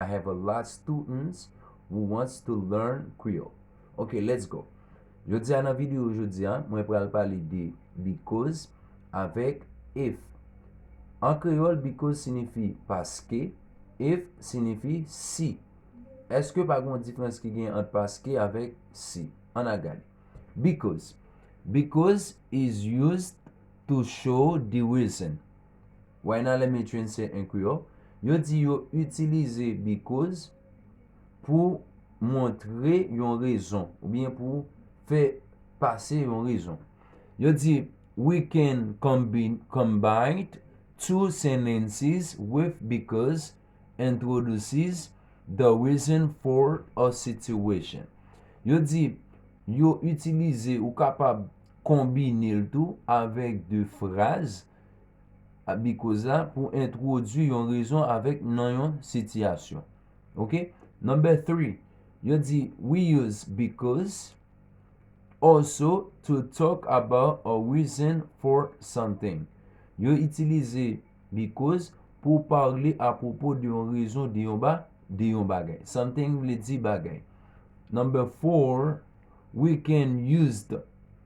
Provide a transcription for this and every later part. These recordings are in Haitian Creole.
I have a lot students who wants to learn creole ok let's go jodi a nan video jodi a mwen pral pale de because avèk if an kreyòl because sinifi paske if sinifi si èske pa gon difrans ki gen ant paske avèk si an a gade because because is used to show the reason Right now let me translate in Creole, Yo di yo itilize because pou montre yon rezon oubyen pou fè pase yon rezon. Yo di We can combine two sentences with because introduces the reason for a situation. Yo di yo itilize ou kapab konbine l tou avèk de fraz ap bi koz la pou entwodui yon rezon avèk nan yon sitiyasyon. Ok? Number 3, yo di we use because also to talk about a reason for something. Yo itilize because pou parle apropo de yon rezon de yon ba de yon bagay. Something vle di bagay. Number 4, we can used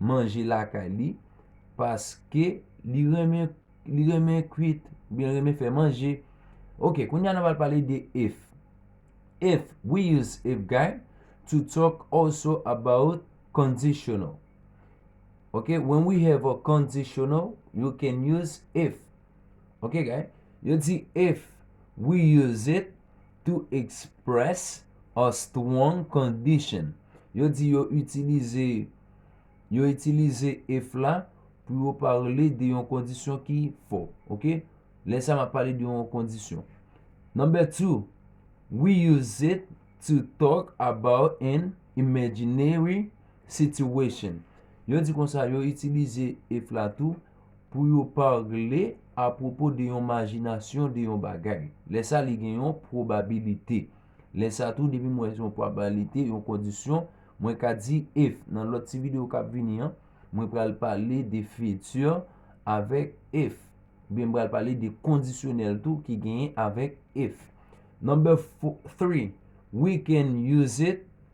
manje lakay li paske li renmen li renmen kwit ou byen renmen fè manje ok kounye a nou pral pale de if if we use if guy to talk also about conditional ok when we have a conditional you can use if ok guy yo di if we use it to express a strong condition. Yo di yo itilize yo itilize if la pou yo parle de yon kondisyon ki fò. Ok? Lè sa m ap pale de yon kondisyon. Number two, We use it to talk about an imaginary situation. Yo di konsa yo itilize if la tou. pou yo parle apwopo de yon majinasyon de yon bagay. Lè sa li gen yon pwobabilite. Lè sa tou depi m wè yon pwabalite, yon kondisyon, mwen ka di if. Nan lòt ti videyo k ap vini an, mwen pral pale de fiti avèk if. Oubyen m pral pale de kondisyonèl tou ki genyen avèk if. Number three, We can use it.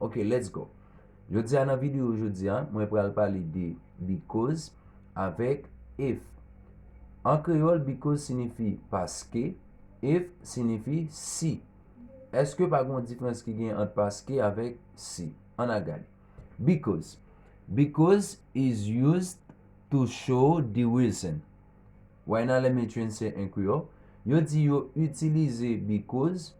Ok let's go Jodi a nan video jodi a mwen pral pale de Because avèk If An kreyòl because sinifi paske If sinifi si Eske pa gen yon difrans ki gen ant paske avèk si An al gade Because Because is used to show the reason Why Nan lè Matron se en kreyòl yo di yo itilize because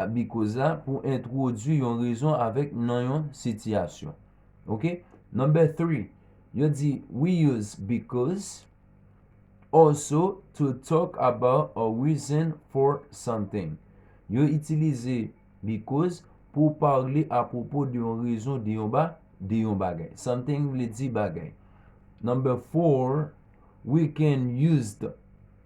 ap bi koz la pou entwodui yon rezon avèk nan yon sitiyasyon. Ok, number three, yo di we use because also to talk about a reason for something. Yo itilize because pou pale apwopo de yon rezon de yon ba de yon bagay. Something vle di bagay. Number four, we can used.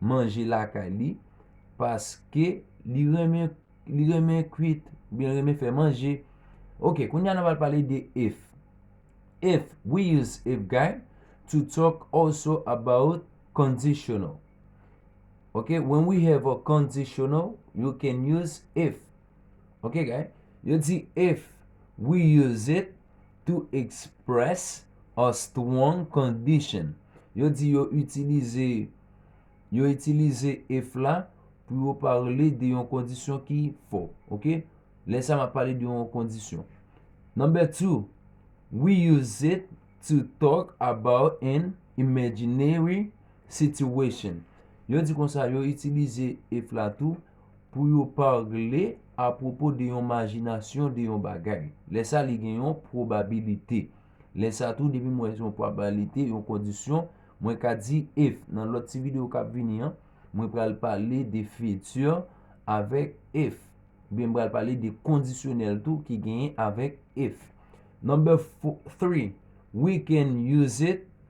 manje lakay li paske li renmen li renmen kwit ou byen renmen fè manje ok kounye a nou pral pale de if if we use if guy to talk also about conditional ok when we have a conditional you can use if ok guy yo di if we use it to express a strong condition. Yo di yo itilize yo itilize if la pou yo pale de yon kondisyon ki fò. Ok, lè sa m ap pale de yon kondisyon. Number two, We use it to talk about an imaginary situation. Yo di konsa yo itilize if la tou. pou yo parle apwopo de yon majinasyon de yon bagay. Lè sa li gen yon pwobabilite. Lè sa tou depi m wè se yon pwabalite, yon kondisyon, mwen ka di if. Nan lòt ti videyo k ap vini an, mwen pral pale de future avèk if. Oubyen m pral pale de kondisyonèl tou ki genyen avèk if. Number three, We can use it.